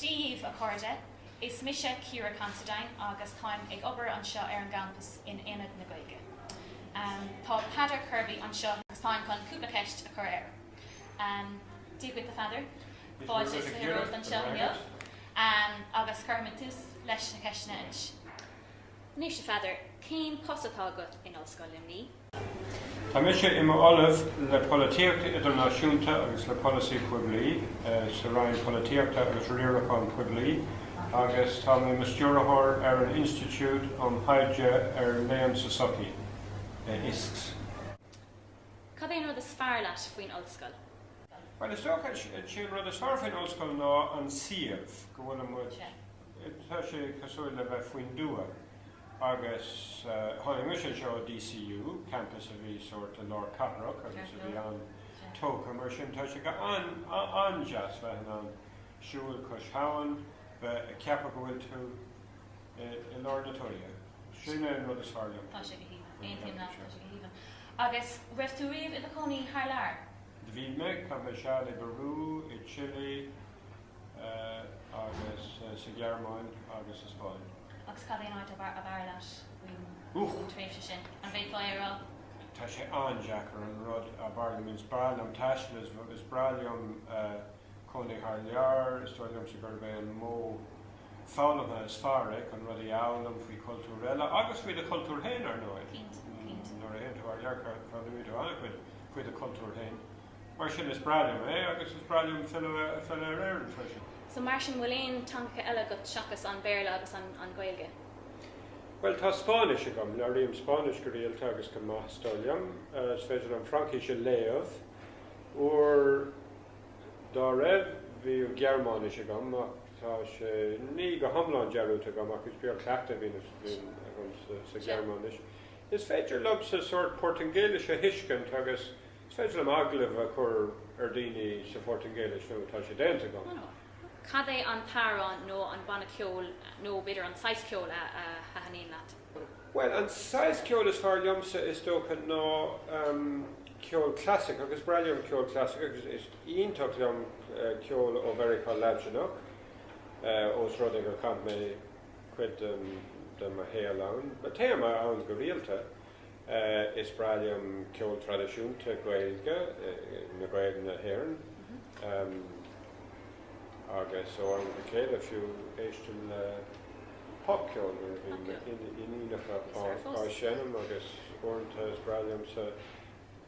Dia dhaoibh, a chairde! Is mise Ciara Considine agus táim ag obair anseo ar an gcampas in Ionad na Gaeilge. Tá Peadar Kirby anseo agus táim chun cúpla ceist a chur air. Dia dhuit a Pheadair. Fáilte is fiche romhat anseo inniu agus cuirfimid tús leis na ceisteanna anois. Anois a Pheadair, cén post atá agat in Ollscoil Luimnigh? Tá mise i m'Ollamh le Polaitíocht Idirnáisiúnta agus le Polasaí Poiblí sa Roinn Polaitíochta agus Riarachán Poiblí agus tá mé i mo Stiúrthóir ar an Institiúid um Thaighde ar Léann sa tSochaí, ISKS. Cad é an rud is fearr leat faoin ollscoil? Bhuel, is dócha, is é an rud is fearr faoin ollscoil ná an suíomh, go bhfuilimid, tá sé cosúil le bheith faoin dtuath. Agus tháinig mise anseo ó DCU, campus a bhí sórt i lár cathrach agus a bhí an-tógtha, mar sin tá sé go han-deas bheith in ann siúl cois habhann, bheith ag ceapadh go bhfuil tú i lár na tuaithe. Sin é an rud is fearr liom faoin ollscoil. Tá sé go haoibhinn. Aontaím leat, tá sé go haoibhinn. Agus raibh tú riamh i do chónaí thar lear? Do bhí mé, chaith mé seal i bPeiriú, i Chile agus sa Ghearmáin agus sa Spáinn. Agus cad é an áit ab fhearr leat faoin tréimhse sin? An bhféadfá é a rá? Tá sé an-deacair, an rud ab fhearr liom. Is breá liom taisteal, is breá liom cónaí thar lear, is dóigh liomsa gurb é an modh foghlamtha is fearr é chun rudaí a fhoghlaim faoi chultúr eile, agus faoi do chultúr féin, ar ndóigh. Nuair a théann tú thar lear, foghlaimíonn tú an-chuid faoi do chultúr féin. Mar sin, is breá liom é, agus is breá liom filleadh ar Éirinn freisin. So, mar sin, bhfuil aon teangacha eile agat seachas an Béarla agus an Ghaeilge? Bhuel, tá Spáinnis agam. Labhraím Spáinnis go rialta agus go maith, is dóigh liom. Is féidir liom Fraincis a léamh. Uair. dá raibh, bhíodh Gearmáinis agam, ach tá sé ní go hiomlán dearúdta agam, ach is beag cleachtadh a bhíonn agam sa Ghearmáinis. Is féidir liomsa sórt Portaingéilis a thuiscint agus is féidir liom agallamh a chur ar dhaoine sa Phortaingéilis, nó tá sé déanta agam. Cad é an t-amhrán nó an banna ceoil nó b'fhéidir an saghas ceoil a thaitníonn leat? Bhuel, an saghas ceoil is fearr liomsa, is dócha, ná ceol clasaiceach, agus is breá liom ceol clasaiceach, agus is iontach liom ceol ó Mheiriceá Laidneach, ós rud é gur chaith mé cuid de mo shaol ann, téim ann go rialta. Is breá liom ceol traidisiúnta Gaeilge na Gaeil na hÉireann agus ó am go céile fiú éistim le popcheol nuair a bhíonn m'iníonacha á seinm agus uaireanta is breá liomsa